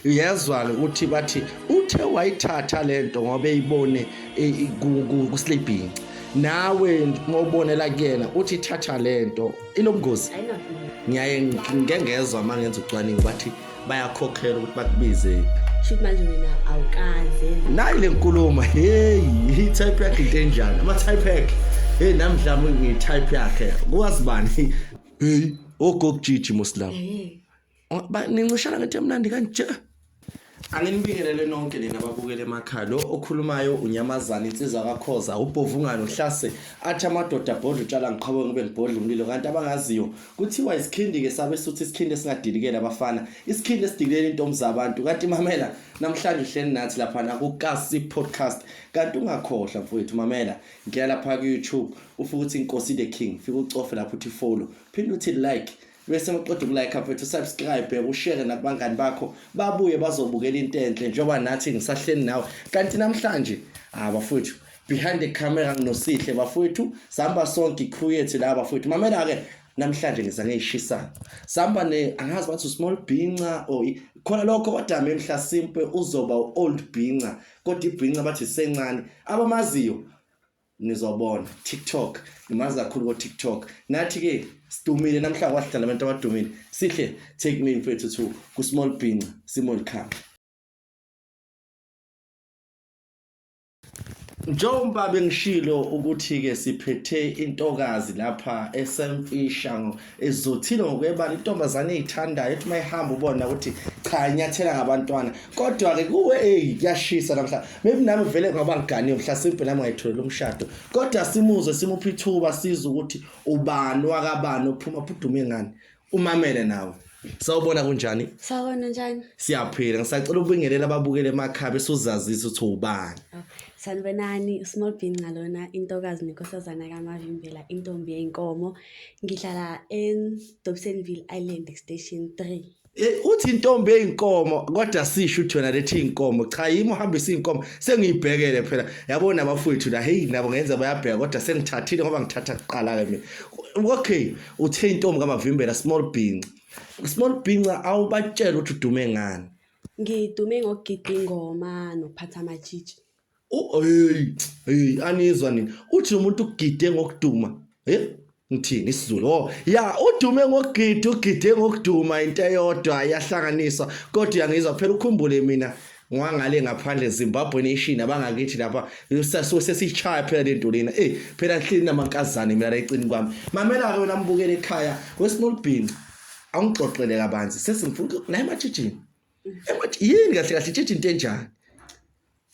uyezwa-ke ukuthi bathi uthe wayithatha le nto ngoba eyibone kuslibhinci nawe ngobonela kuyena uthi ithatha le nto inobungozi ngiyaye ngike ngezwa uma ngenza ucwaningo bathi bayakhokhela ukuthi bakubize shuthi manje wena awukaze nayi le nkulumo heyi i-type yakhe into enjani ama-type yakhe heyi nami mhlawumbe ngiyi-type yakhe kuwazi bani heyi ogokujiji muslam nincishana ngento emnandi kanje anginibingelele nonke nina babukele emakhaya lo okhulumayo unyamazana insizwa kakhoza ubhovungane uhlase athi amadoda abhodla utshala ngiqhawe ngibe ngibhodla umlilo kanti abangaziyo kuthiwa isikhindi-ke sabe suthi isikhindi esingadilikele abafana isikhindi esidikilela intombi zabantu kanti mamela namhlanje uhleli nathi laphana kukasi podcast kanti ungakhohlwa mfowethu mamela ngiyala lapha ku-youtube ufuke uthi inkosi the king fike ucofe lapho uthi follow phinde uthi like bese uqeda ukulike mfethu subscribe ushare nakubangani bakho babuye bazobukela into enhle njengoba nathi ngisahleni nawe kanti namhlanje ah bafowethu behind the camera nginosihle bafowethu sihamba sonke crew yethu la bafowethu mamela ke namhlanje ngiza ngeyishisa sihamba ne angazi bathi small binca or khona lokho wadame mhla simpe uzoba old binca kodwa ibhinca bathi sencane abamaziyo nizobona tiktok ngimazi kakhulu ko-tiktok nathi-ke sidumile namhlanje wasidlala abantu abadumile sihle take me mfethu to kusmall bhinca simol camp njengoba bengishilo ukuthi-ke siphethe intokazi lapha esemfisha ezothile ngokwebala intombazane eyithandayo ethi mayihamba ubona ukuthi cha inyathela ngabantwana kodwa ke kuwe hey kuyashisa namhla maybe nami vele ngoba ngiganiwe mhla simpe nami ngayitholela umshado kodwa simuzwe simuphi ithuba siza ukuthi ubani wakabani ophuma phudume ngani umamele nawe Sawubona kunjani? Sawubona njani? Siyaphila. Ngisacela ubingelela ababukele emakhaya bese uzazisa ukuthi ubani. Sanibonani, uSmall Bean ngalona intokazi nenkosazana kaMavimbela, intombi yenkomo ngihlala edobsonville island station three Eh, uthi intombi eyinkomo kodwa sisho uthi wena lethi inkomo cha yimi uhambisa inkomo sengiyibhekele phela yabona abafowethu la hey nabo ngenza bayabheka kodwa sengithathile ngoba ngithatha kuqala ke mina okay uthe intombi kamavimbela small binca small binca awubatshela ukuthi udume ngani ngidume ngokugida ingoma nokuphatha amatshitshi Hey, hey anizwa nini? Uthi umuntu ugide ngokuduma. Hey, ngithini isiZulu? Oh, ya udume ngokugida, ugide ngokuduma into eyodwa yahlanganisa. Kodwa uyangizwa phela ukhumbule mina ngwangale ngaphandle Zimbabwe nation abangakithi lapha sesichaya phela lento lena eh phela nhlini namankazane mina la ecini kwami mamela ke wena mbukele ekhaya wesinolibhinqa awungixoxele kabanzi sesingifuna naye ematshitshini ematshitshini yini kahle kahle itshitshi into enjani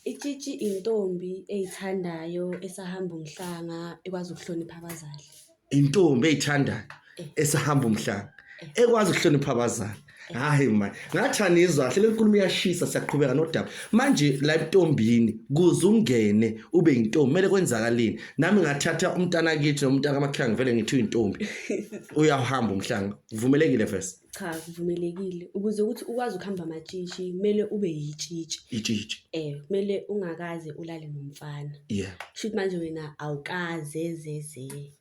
Itshitshi intombi eyithandayo esahamba umhlanga ekwazi ukuhlonipha abazali. Intombi eyithandayo eh. esahamba umhlanga eh. ekwazi ukuhlonipha abazali. Eh. Hayi man, ngathi anizwa kahle le nkulumo iyashisa siyaqhubeka nodaba. Manje la intombini kuze ungene ube intombi mele kwenzakalini? Nami ngathatha umntana kithi nomntana kaMakhanga vele ngithi uyintombi. Uyahamba umhlanga. Vumelekile vese. Cha kuvumelekile ukuze ukuthi ukwazi ukuhamba amatshitshi kumele ube yitshitshi. Itshitshi. Eh kumele ungakaze ulale nomfana. Yeah. Shuthi manje wena awukaze zeze.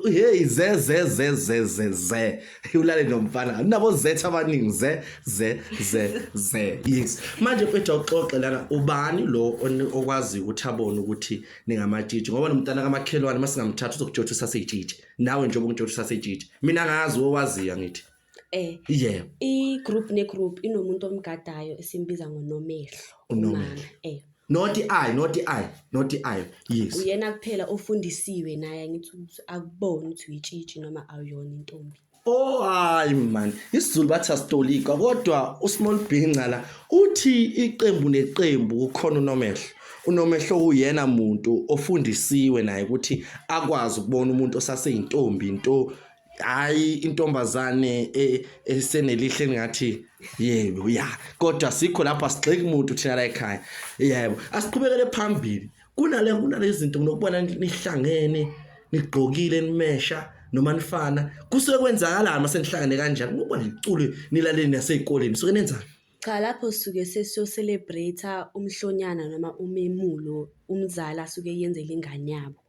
Hey ze ze ze ze ze ze. Ulale nomfana. Nabo zetha abaningi ze ze ze ze. Yes. Manje mfethu awuxoxe lana ubani lo okwazi ukuthi abone ukuthi ningamatshitshi ngoba nomntana kamakhelwane masingamthatha uzokutshotha usaseyitshitshi. nawe njengoba ngitsho ukuthi usasejiji mina ngazi owaziyo angithi eh yeah i-group ne-group inomuntu omgadayo esimbiza ngonomehlo Unomehlo. umama eh not i not i not i yes uyena kuphela ofundisiwe naye angithi ukuthi akuboni ukuthi uyitshitshi noma awuyona intombi Oh hayi man, isiZulu bathi asitolika kodwa uSmall Bhinca la uthi iqembu neqembu kukhona unomehlo. unomehlo uyena muntu ofundisiwe naye ukuthi akwazi ukubona umuntu osaseyintombi into hayi intombazane e, esenelihle ngathi yebo ya kodwa sikho lapha sigxeki umuntu thina la ekhaya yebo asiqhubekele phambili kunale kunale zinto nokubona nihlangene nigqokile nimesha noma nifana kusuke kwenzakalani masenihlangene kanjani ngoba niculo nilaleni nasezikoleni suke nenzani Cha lapho suke sesiyo celebrate-a umhlonyana noma umemulo umzali asuke eyenzela ingane yabo.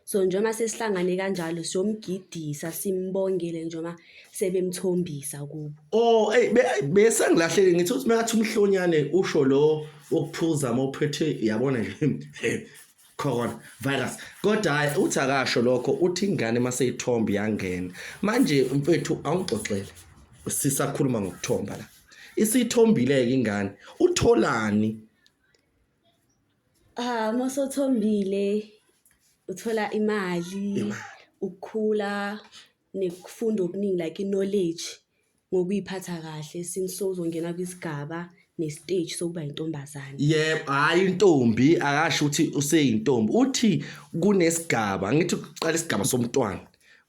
So njengoba sesihlangane kanjalo siyomgidisa simbongele njengoba sebemthombisa kubo. Oh hey bese ngilahleke ngithi uthi makathi umhlonyane usho lo okuphuza mophethe yabona nje corona virus kodwa hayi uthi akasho lokho uthi ingane maseyithomba yangena manje mfethu awungixoxele sisakhuluma ngokuthomba la isithombile-ke ingane utholani ah uma sothombile uthola imali ukukhula Nikufunda okuningi like i-knowledge ngokuy'phatha kahle since sowuzongena kwisigaba ne-stage sokuba yintombazane. Yebo, hhayi intombi akasho ukuthi useyintombi. Uthi kunesigaba, ngithi kuqala isigaba somntwana.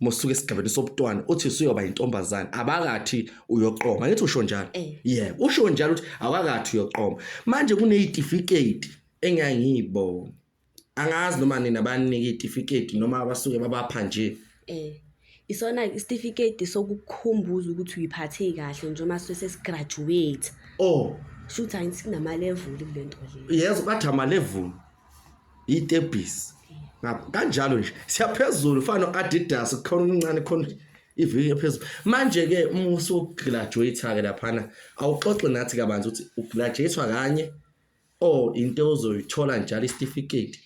Uma usuka esigabeni sobuntwana uthi usuyoba yintombazane, abakathi uyoqoma. Ngithi usho njalo? Eh. Yebo, usho njalo ukuthi awakathi uyoqoma. Manje kuney'tifiketi engangiy'bona. angazi noma nina banika itifiketi noma abasuke babapha nje eh isona isitifiketi sokukhumbuza ukuthi uyiphathe kahle njengoba sesigraduate oh shuthi angithi kunama-level kule nto le yezo bathi ama-level yitebhisi kanjalo nje siyaphezulu fana no-adidas kukhona okuncane khona iviki ephezulu manje-ke uma usugraduate-ke laphana awuxoxe nathi kabanzi ukuthi ugraduate-wa kanye Oh into ozoyithola njalo isitifiketi.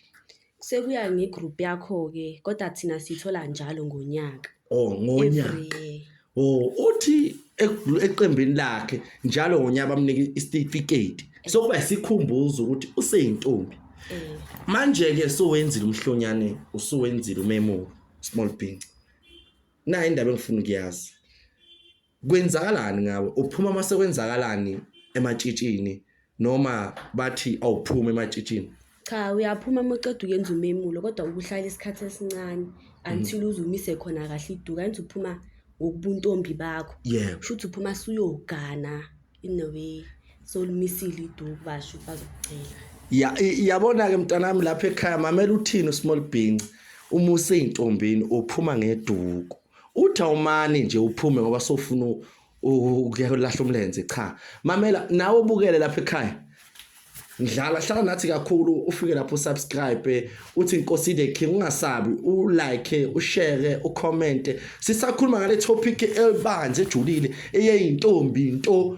Sekuya ngegroup yakho ke kodwa thina sithola njalo ngonyaka. Oh ngonyaka. Every year. Oh uthi eku- eqembini lakhe njalo ngonyaka bamnika isitifiketi. Sokuba isikhumbuzo ukuthi useyintombi. Eh, Manje ke sowenzile umhlonyane usuwenzile umemulo small bean. Nayi indaba engifuna ukuyazi. Kwenzakalani ngawe? Uphuma mase kwenzakalani ematshitshini noma bathi awuphumi ematshitshini? Cha uyaphuma uma uqeda uyenza umemulo kodwa ukuhlala isikhathi esincane until uze umise khona kahle iduka enze uphuma ngokubuntombi bakho. Yebo. Kusho ukuthi uphuma suyogana in a way solumisile iduku basho ukuthi bazokucela. Ya i- yabona ke mntanami lapha ekhaya mamela uthini uSmall Bhinci uma useyintombini uphuma ngeduku. uthi awumani nje uphume ngoba sofuna ukuyolahla umlenze cha mamela nawe ubukele lapha ekhaya ngidlala hlala nathi kakhulu ufike lapho subscribe uthi inkosi the king ungasabi u like u share u comment sisakhuluma ngale topic elibanje ejulile eyeyintombi into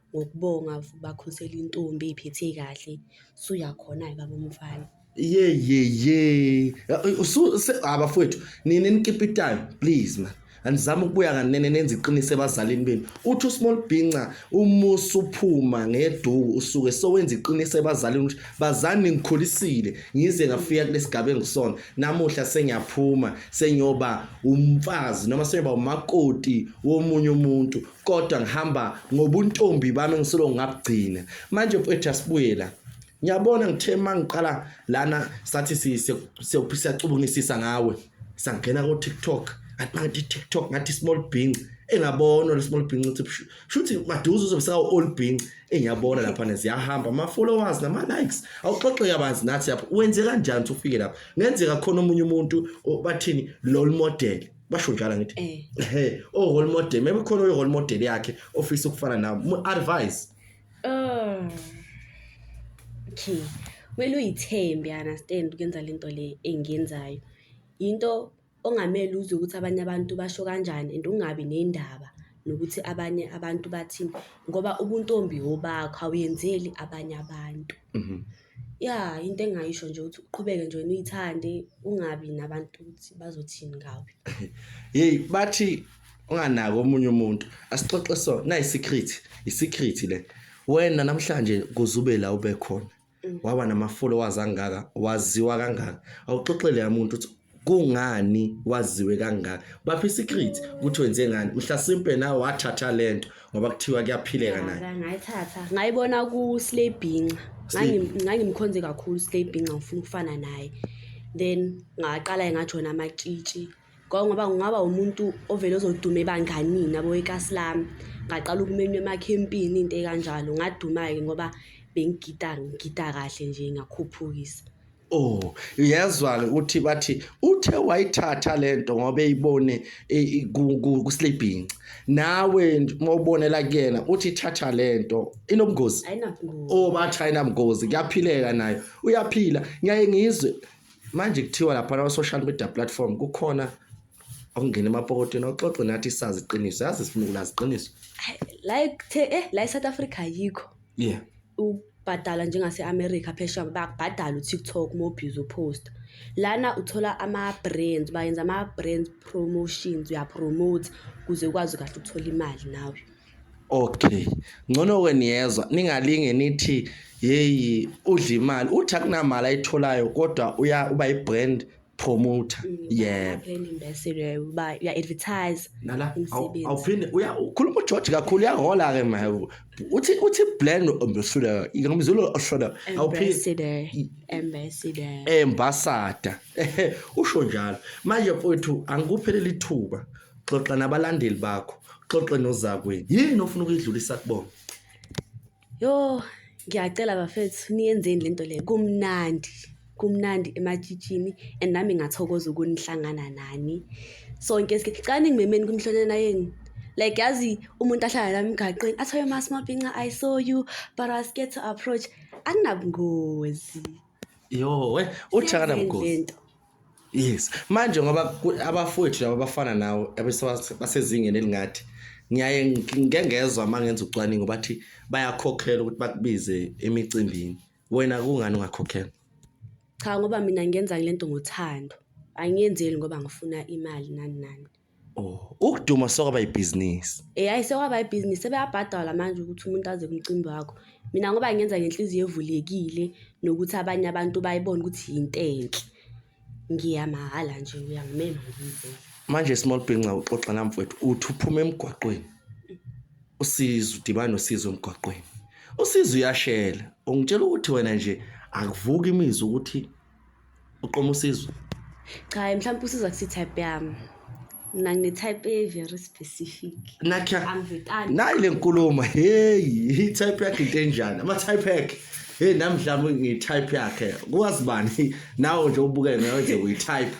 ngokubonga bakhusela intombi ey'phethe kahle suyakhona-ke baba umfana yeyeye abafowethu nina enikipitayo please man andizama ukubuya kanene nenza iqiniso ebazalini benu uthi usmall bhinca umusa uphuma ngeduku usuke sowenza iqiniso ebazalini ukuthi bazani ngikhulisile ngize ngafika kulesigaba engisona namuhla sengiyaphuma sengiyoba umfazi noma sengiyoba umakoti womunye umuntu kodwa ngihamba ngobuntombi bami engisolo ngabugcina manje mfethu asibuyela ngiyabona ngithe uma ngiqala lana sathi siyacubungisisa ngawe sangena ko-tiktok athi mangithi tiktok ngathi small bing engabona le small bing ukuthi shuthi maduze uzobe sawu-all bing engiyabona laphana ziyahamba ama-followers nama-likes awuxoxeke abanzi nathi lapho wenze kanjani ukuthi ufike lapho ngenzeka khona omunye umuntu bathini lol model basho njalo ngithi eh. ehe o oh, role model maybe khona uyo role model yakhe ofisa ukufana nawe mu advise um okay kumele uyithembe you understand ukwenza lento le engiyenzayo into ongamele uzwe ukuthi abanye abantu basho kanjani and ungabi nendaba nokuthi abanye abantu bathini ngoba ubuntombi obakho awuyenzeli abanye abantu mhm. Ya into engingayisho nje ukuthi uqhubeke nje wena uyithande ungabi nabantu ukuthi bazothini ngawe. Hey bathi unganaki omunye umuntu asixoxe so na secret i secret le wena namhlanje kuzube la ube khona mm. waba nama followers angaka waziwa kangaka awuxoxele umuntu ukuthi kungani waziwe kangaka baphi secret ukuthi wenze ngani mhla simpe nawe wathatha lento ngoba kuthiwa kuyaphileka naye ngayithatha ngayibona ku slay binca ngangimkhonze kakhulu slay binca ngifuna ukufana naye then ngaqala ngajona amatshitshi ngoba ngingaba umuntu ovele ozoduma ebanganini abo ekasi lami ngaqala ukumenywa emakhempini into ekanjalo ngaduma-ke ngoba bengigida ngigida kahle nje ngakhuphukisa Oh, uyezwa-ke ukuthi bathi uthe wayithatha le nto ngoba eyibone kusilibhinci. Nawe uma ubonela kuyena uthi ithatha le nto inobungozi. Ayinabungozi. Oh, bathi ayinabungozi, kuyaphileka nayo. Uyaphila. Ngiyaye ngizwe manje kuthiwa lapha lawa social media platform kukhona okungena emapokotweni oxoxe nathi sazi iqiniso. Yazi sifuna ukulazi iqiniso. Hayi, la ekuthe eh la eSouth Africa ayikho. yeah ukubhadala njengase-america phesha bakubhadala utiktok uma ubhizi uphosta lana uthola ama-brands bayenza ama-brands promotions uyapromote kuze ukwazi kahle ukuthola imali nawe okay ngcono-ke niyezwa ningalinge nithi yeyi udla imali uthi akunamali ayitholayo kodwa uba i-brand promoter Mm, yebo Ngaphandle imbeselo yayo uba ya advertise nala awu- Umsebenzi. awuphinde uya ukhuluma ugeorge kakhulu uyahola ke ma uthi uthi blend ambassador ngamzulu oshoda awuphinde ambassador ambassador embasada Ehe, usho njalo manje mfowethu angikupheleli ithuba xoxa nabalandeli bakho xoxe nozakwenu yini ofuna ukuyidlulisa kubona Yho, ngiyacela bafethu niyenzeni le nto le, kumnandi kumnandi ematshitshini and nami ngathokoza ukunihlangana nani sonke sike cala ningimemeni kumhlonyana yenu like yazi umuntu ahlala la emgaqweni athoye masmabhinca i saw you but i was scared to approach akunabungozi Yho, we uthakana mgozi. lento Yes. Manje ngoba abafowethu laba bafana nawo basezingeni elingathi ngiyaye ngike ngezwa uma ngenza ucwaningo bathi bayakhokhela ukuthi bakubize emicimbini. Wena kungani ungakhokhela? Cha ngoba mina ngenza le nto ngothando, angiyenzeli ngoba ngifuna imali nani nani. Oh, ukuduma sokwaba ibhizinisi. Eh hayi sekwaba ibhizinisi sebeyabhadala manje ukuthi umuntu aze kumcimbi wakho. Mina ngoba ngenza ngenhliziyo evulekile nokuthi abanye abantu bayibona ukuthi yinto enhle. Ngiya mahhala nje uyangimema ngize. Manje small bhinca uxoxa nami mfowethu uthi uphuma emgwaqweni. Usizo udibana nosizo emgwaqweni. Usizo uyashela. Ungitshela ukuthi wena nje akuvuki imizwa ukuthi uqoma usizo cha mhlawumbe usiza kusi-type yami mna ngine-type e-very specific nakha nayi le nkulumo heyi i-type yakhe into enjani ama-type yakhe heyi nami mhlawumbe ngiyi-type yakhe kwazi bani nawo nje ubukele nawe nje uyi-type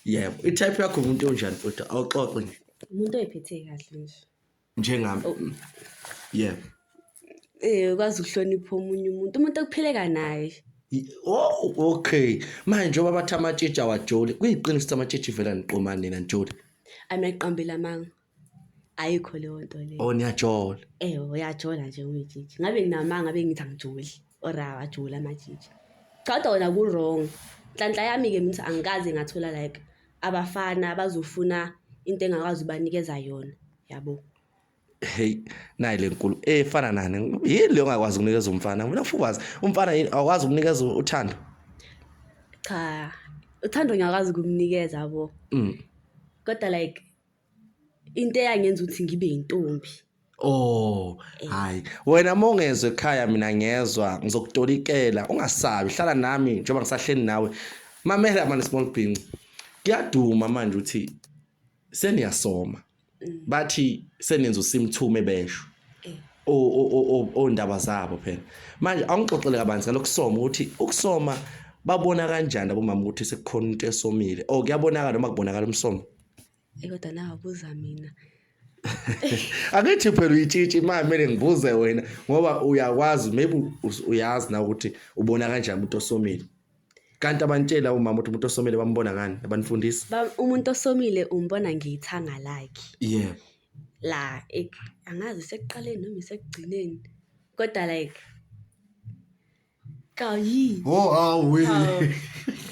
yebo i-type yakho umuntu onjani futhi awuxoxe nje umuntu oyiphethe kahle nje njengami oh. mm, yeah eh ukwazi ukuhlonipha omunye umuntu umuntu okuphileka naye Oh okay manje njengoba bathi amatshitshi awajoli kuyiqiniso amatshitshi vela niqoma nina njoli ameqambela amanga ayikho leyo nto leyo oh niyajola eh uyajola nje umtshitshi ngabe nginamanga ngabe ngithi angijoli or awajula amajiji cha kodwa wena ku-wrong nhlanhla yami-ke mina ukuthi angikaze ngathola like abafana abazofuna into engakwazi ubanikeza yona yabo hey nayi lenkulu efana eh, nani yini leyo ngakwazi ukunikeza umfana mina ufubazi umfana yini awakwazi ukunikeza uthando cha uthando ngiyakwazi ukumnikeza yabo mm. kodwa like into eyangenza ukuthi ngibe yintombi Oh, eh. hayi. Wena uma ungezwe ekhaya mina ngezwa, ngizokutolikela, ungasabi, hlala nami njengoba ngisahleli nawe. Mamela manje small bhinci. Kuyaduma manje ukuthi seniyasoma. Mm. Bathi senenza usimthume besho. Eh. ondaba zabo phela manje awungixoxele kabanzi ngalokusoma ukuthi ukusoma babona kanjani abomama ukuthi sekukhona into esomile or kuyabonakala noma kubonakala umsomo Eyi kodwa nawe buza mina. Angithi phela uyitshitshi imali kumele ngibuze wena ngoba uyakwazi maybe us- uyazi na ukuthi ubona kanjani umuntu osomile. Kanti abantshela umama ukuthi umuntu osomile bambona ngani abanifundisi. Ba- Umuntu osomile umbona ngeyithanga lakhe. Yeah. la ek- angazi sekuqaleni noma isekugcineni kodwa like Kayi. Oh, oh, we.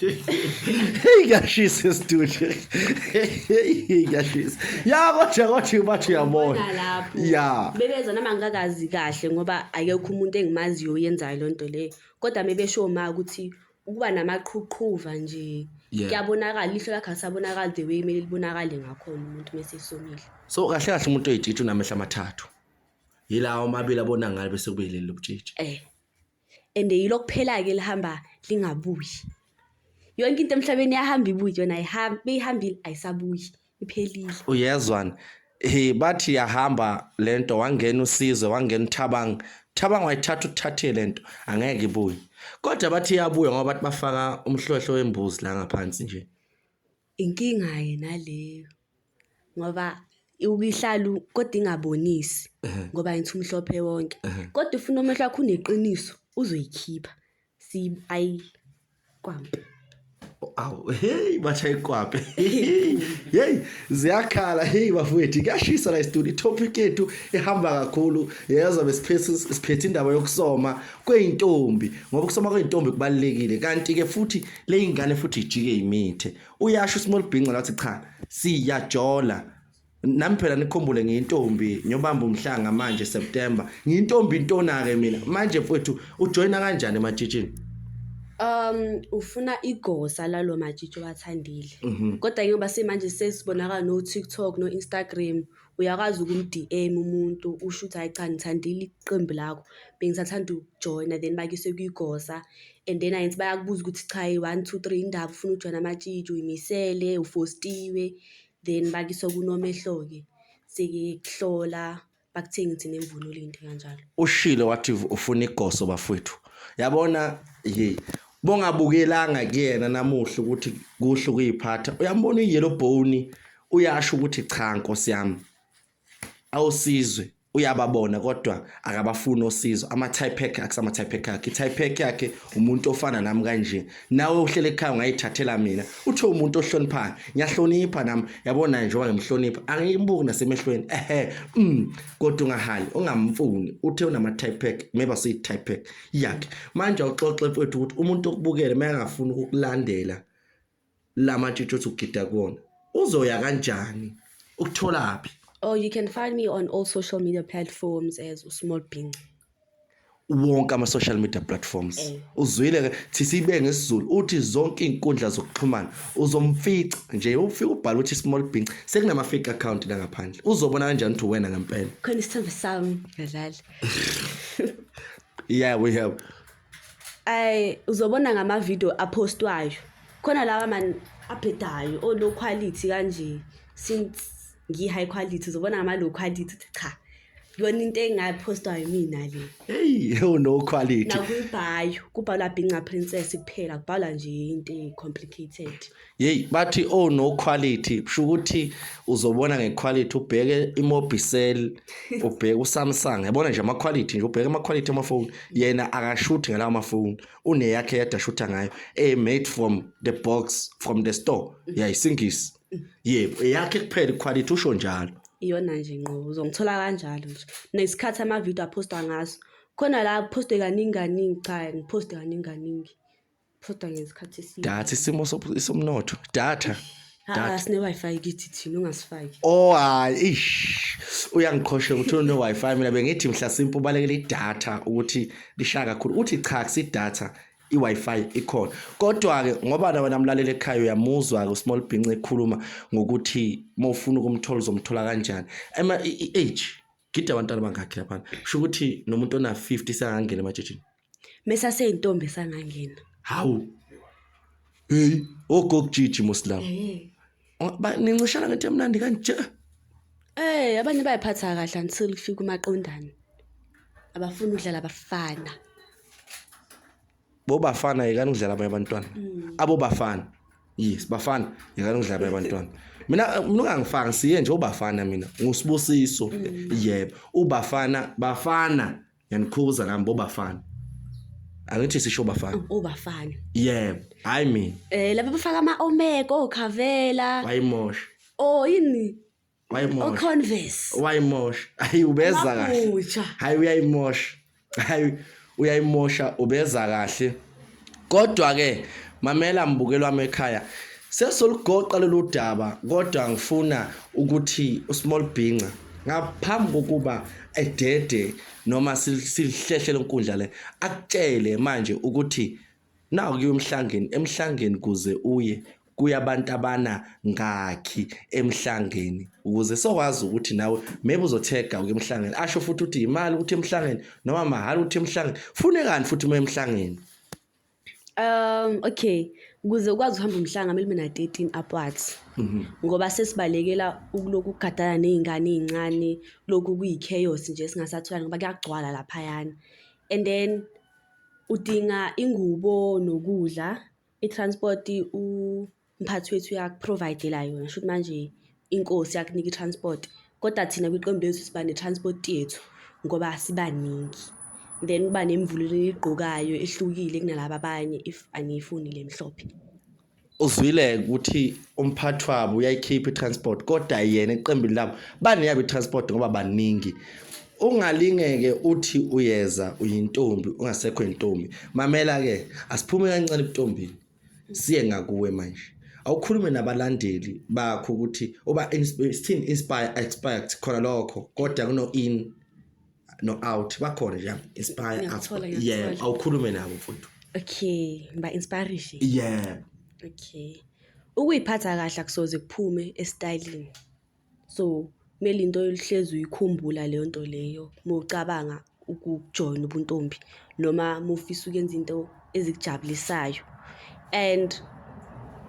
Hey, ngiyashisa esitudio. Hey, ngiyashisa. Ya kodwa kodwa bathi uyabona. Ubona lapho. Ya. Bebeza nami angikakazi kahle ngoba akekho umuntu engimaziyo oyenzayo le nto leyo. Kodwa mebesho ma ukuthi ukuba namaqhuqhuva nje Yeah. kuyabonakala ihlo lakhe asabonakala the way kumele libonakale ngakhona umuntu mese esomile. So kahle kahle umuntu oyitshitshi unamehla amathathu. Yilawo amabili abona ngalo bese kube yileli lobutshitshi. Eh. and yilo kuphela-ke lihamba lingabuyi yonke into emhlabeni yahamba ibuyi yona ayihambi beyihambile ayisabuyi iphelile uyezwani he bathi yahamba le nto wangena usizwe wangena uthabang thabang wayithatha uthathe le nto angeke ibuye kodwa bathi iyabuya ngoba bathi bafaka umhlohlo wembuzi la ngaphansi nje Inkinga-ke naleyo ngoba uke ihlale kodwa ingabonisi ngoba ngithi umhlophe wonke. Kodwa if unomehlo wakho uneqiniso uzoyikhipha ayi kwambi. Awu hey bashaye iqwabe. Hey ziyakhala hey bafowethu kuyashisa la studio topic yethu ehamba kakhulu yezwa besiphethe siphethe indaba yokusoma kweintombi ngoba ukusoma kweintombi kubalekile kanti ke futhi leyingane futhi ijike imithe uyasho small bingo lathi cha siyajola nami phela nikhumbule ngiyintombi ngiyobamba umhlanga manje September ngiyintombi intona ke mina manje mfowethu ujoyina kanjani ematshitshini um ufuna igosa lalo matshitshi wathandile mhm. kodwa njengoba simanje sesibonakala no TikTok no Instagram Uyakwazi ukum-D_M umuntu usho ukuthi hhayi cha ngithandile iqembu lakho bengisathanda ukujoyina then bakuyise kwigosa and then angithi bayakubuza ukuthi cha one two three yini ndaba ufuna ukujoyina amatshitshi uy'misele ufostiwe then bakuyise kunomehlo-ke sekuhlola bakuthengise nemvunulo into kanjalo. Ushilo wathi ufuna igoso bafwethu. Yabona hey bongabukelanga kuyena namuhla ukuthi kuhle ukuyiphatha. Uyambona uyellow bone uyasho ukuthi cha nkosi yami awusizwe uyababona kodwa akabafuni osizo ama-typec akusama-typec akhe i-typec yakhe umuntu ofana nami kanje nawe uhlele ekhaya ungayithathela mina uthe umuntu ohloniphayo ngiyahlonipha nami yabona njengoba ngimhlonipha angiyimbuki nasemehlweni ehe mm, kodwa ungahali ungamfuni uthe unama-typec maybe asiyi-typec yakhe manje awuxoxe mfethu ukuthi umuntu okubukele uma engafuni ukukulandela lama tshitshi othi ugida kuwona uzoya kanjani ukutholaphi Oh, you can find me on all social media platforms as Usmall Bhinci. wonke ama-social media platforms Eh. uzwile ke thi sibe ngesizulu uthi zonke iy'nkundla zokuxhumana uzomfica nje ufike ubhale ukuthi small binc sekunama-fake account la ngaphandle uzobona kanjani ukuthi uwena ngempela Khona isithembu sami ngadlali. yeah we have ay uzobona ngama video apostwayo khona lawa man abhedayo o low quality kanje since ngi high quality uzobona ngama low quality cha yona into engapostwa yimina le hey yo no quality nakubhayo kubhalwa binca princess kuphela kubhalwa nje into complicated Yeyi bathi oh no quality kusho ukuthi uzobona ngequality ubheke imobicel ubheke usamsung yabona nje amaquality nje ubheke amaquality amafoni yena akashuthi ngalawo mafoni uneyakhe yedwa ashutha ngayo e made from the box from the store yayisingisi yebo eyakhe kuphela iquality usho njalo iyona nje nqo uzongithola kanjalo nje nesikhathi amavidiyo aphostwa ngaso khona la aphostwe kaningi kaningi cha ngiphoste kaningi kaningi Phoda ngesikhathi esiningi. Data isimo sobu- somnotho. Data. Ah, sine Wi-Fi kithi thina ungasifaki. Oh hayi ish. Uyangiqhosha ukuthi une Wi-Fi mina bengithi mhla simpu balekela idata ukuthi lishaya kakhulu. Uthi cha kusi data i-Wi-Fi ikhona. Kodwa ke ngoba na wena mlaleli ekhaya uyamuzwa ke uSmall Bince ekhuluma ngokuthi mawufuna ukumthola uzomthola kanjani. Ema i- i- age gida abantwana bangakhi laphana kusho ukuthi nomuntu ona-50 sangangena ematshitshini mesaseyintombi sangangena hawu heyi ogokujiji muslam nincishana ngento emnandi kanje Eh abanye bayiphatha kahle until kufika umaqondana. Abafuni udlala abafana. Bo bafana yekani ukudlala abanye abantwana. Mm. Abo bafana. Yes, bafana yekani ukudlala abanye abantwana. Mina mina ungangifaki siye nje ubafana mina. Ngusibusiso. Mm. Yebo, ubafana bafana yanikhuza nami bo bafana. Angithi sisho bafana. Oh, ubafana. Yebo, hayi mina. Eh laba bafaka ama omega okhavela. Bayimosha. Oh yini? wayimosha oconverse wayimosha hayi ubeza kahle Mabutsha. hayi uyayimosha hayi uyayimosha ubeza kahle kodwa ke mamela mbukeli wami ekhaya sesoligoqa lolu daba kodwa ngifuna ukuthi usmall bhinca ngaphambi kokuba edede noma sil- silihlehle lenkundla le akutshele manje ukuthi Nawu kuya umhlangeni emhlangeni kuze uye kuya abantu abana ngakhi emhlangeni ukuze sokwazi ukuthi nawe maybe uzothega uke emhlangeni asho futhi ukuthi imali ukuthi emhlangeni noma mahhala ukuthi emhlangeni fune kani futhi uma emhlangeni Um okay ukuze ukwazi uhamba umhlanga kumele ube na 13 upwards mhm. ngoba sesibalekela ukuloku kugadana nezingane ezincane lokhu kuyi chaos nje singasatholani ngoba kuyagcwala lapha yana and then Udinga ingubo nokudla, i-transport umphathi wethu uyaku-provide-ela yona. Shuthi manje inkosi yakunika i-transport, koda thina kwiqembu lethu siba ne-transport yethu ngoba sibaningi. Then kuba nemvunulo eniyigqokayo ehlukile kunalaba abanye if aniyifuni le emhlophe. uzwile ukuthi umphathi wabo uyayikhipha i-transport kodwa yena eqembini labo baneyabo i-transport ngoba baningi ungalingeke uthi uyeza uyintombi ungasekho intombi mamela ke asiphume kancane ebuntombini siye ngakuwe manje awukhulume nabalandeli bakho ukuthi uba sithini inspire expect khona lokho kodwa kuno in no out bakhona nje inspire Ngiyakuthola, us yeah ngiyakuthola. awukhulume nabo mfuthu okay ngiba inspirishe yeah okay ukuyiphatha kahle akusoze kuphume estylini so kumele into oluhlezi uyikhumbula leyo nto leyo uma ucabanga ukujoyina ubuntombi noma uma ufisa ukuyenza into ezikujabulisayo and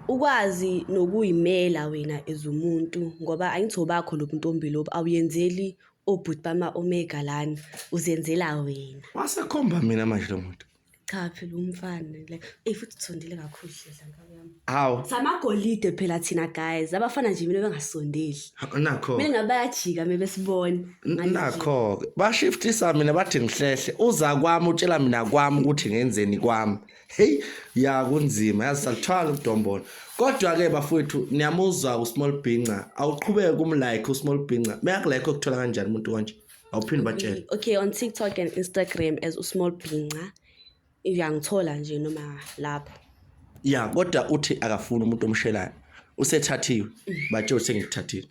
ukwazi nokuyimela wena as umuntu ngoba angithi obakho lo buntombi lobu awuyenzeli obhuti bama omega lana uzenzela wena wasekhomba mina manje lo muntu cha phela umfana like ey futhi uthondile kakhulu hlela ngabo yami hawu samagolide phela thina guys abafana nje mina bengasondeli nakho mina ngabe bayajika mina besibona nakho bashiftisa mina bathi ngihlehle uza kwami utshela mina kwami ukuthi ngenzeni kwami heyi ya kunzima yazi saluthwala udombolo kodwa-ke bafowethu niyamuzwa usmall bhinca awuqhubeke kumlike usmall bhinca meyakulike okuthola kanjani umuntu konje awuphinde batshele okay on tiktok and instagram as usmall bhinca uyangithola nje noma lapho ya kodwa uthi akafuni umuntu omshelayo usethathiwe batshele ukuthi sengikuthathile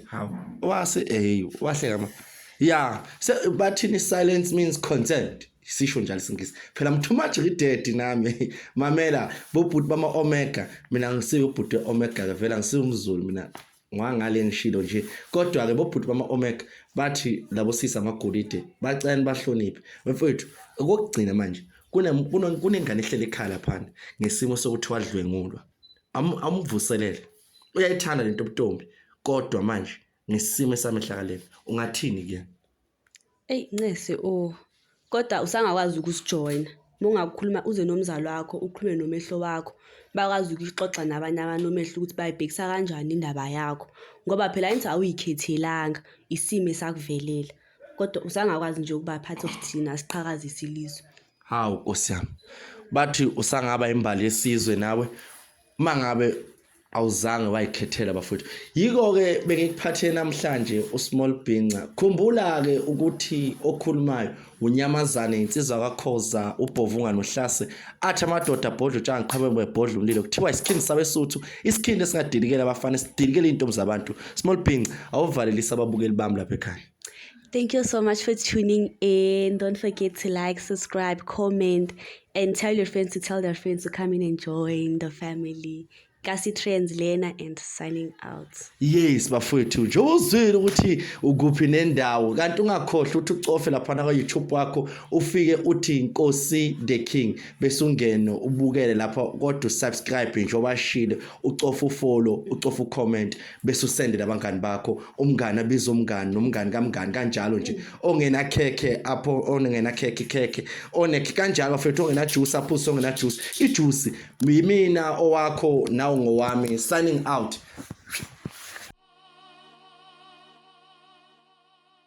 hawu wase hey wahleka ma ya bathini silence means consent sisho njalo isingisi phela mthumaji lidedi nami mamela bobhuti bama omega mina ngisiwe ubhuti omega ke vela ngisiwe umzulu mina ngwangale ngishilo nje kodwa ke bobhuti bama omega bathi labo sisa amagolide bacela bahloniphe mfethu okugcina manje kunengane ehlele ekhala phana ngesimo sokuthi wadlwengulwa amvuselele uyayithanda lento obutombi kodwa manje ngesimo esamehlakaleni ungathini kuyena eyi ncese o oh. kodwa usangakwazi ukusijoyina uma ungakukhuluma uze nomzali wakho ukhulume nomehlo wakho bakwazi ukuxoxa nabanye abantu omehlo ukuthi bayibhekisa kanjani indaba yakho ngoba phela into awuyikhethelanga isimo esakuvelela kodwa usangakwazi nje ukubaphatha okuthina siqhakazise ilizwe Hawu Nkosi yami. Bathi usangaba imbali yesizwe nawe mangabe awuzange wayikhethela bafowethu. Yiko ke bengikuphathe namhlanje uSmall Bhinca. Khumbula ke ukuthi okhulumayo unyamazane insizwa kakhoza ubhovunga nohlase athi amadoda abhodla utshanga qhamuke bebhodla umlilo kuthiwa isikhindi sabesuthu isikhindi esingadilikela abafana sidilikela izintombi zabantu Small Bhinca awuvalelisa ababukeli bami lapha ekhaya Thank you so much for tuning in. Don't forget to like, subscribe, comment, and tell your friends to tell their friends to come in and join the family. Kasi Trends lena and signing out. Yes bafowethu njengoba uzwile ukuthi ukuphi nendawo kanti ungakhohlwa ukuthi ucofe lapha kwa YouTube wakho ufike uthi Nkosi the King bese ungene ubukele lapha kodwa subscribe njengoba shilo ucofa ufollow ucofa ucomment bese usende nabangani bakho umngani abiza umngani nomngani kamngani kanjalo nje ongena khekhe apho ongena khekhe khekhe onekhe kanjalo mfethu ongena juice aphuse ongena juice ijuice yimina owakho nawo ngowami signing out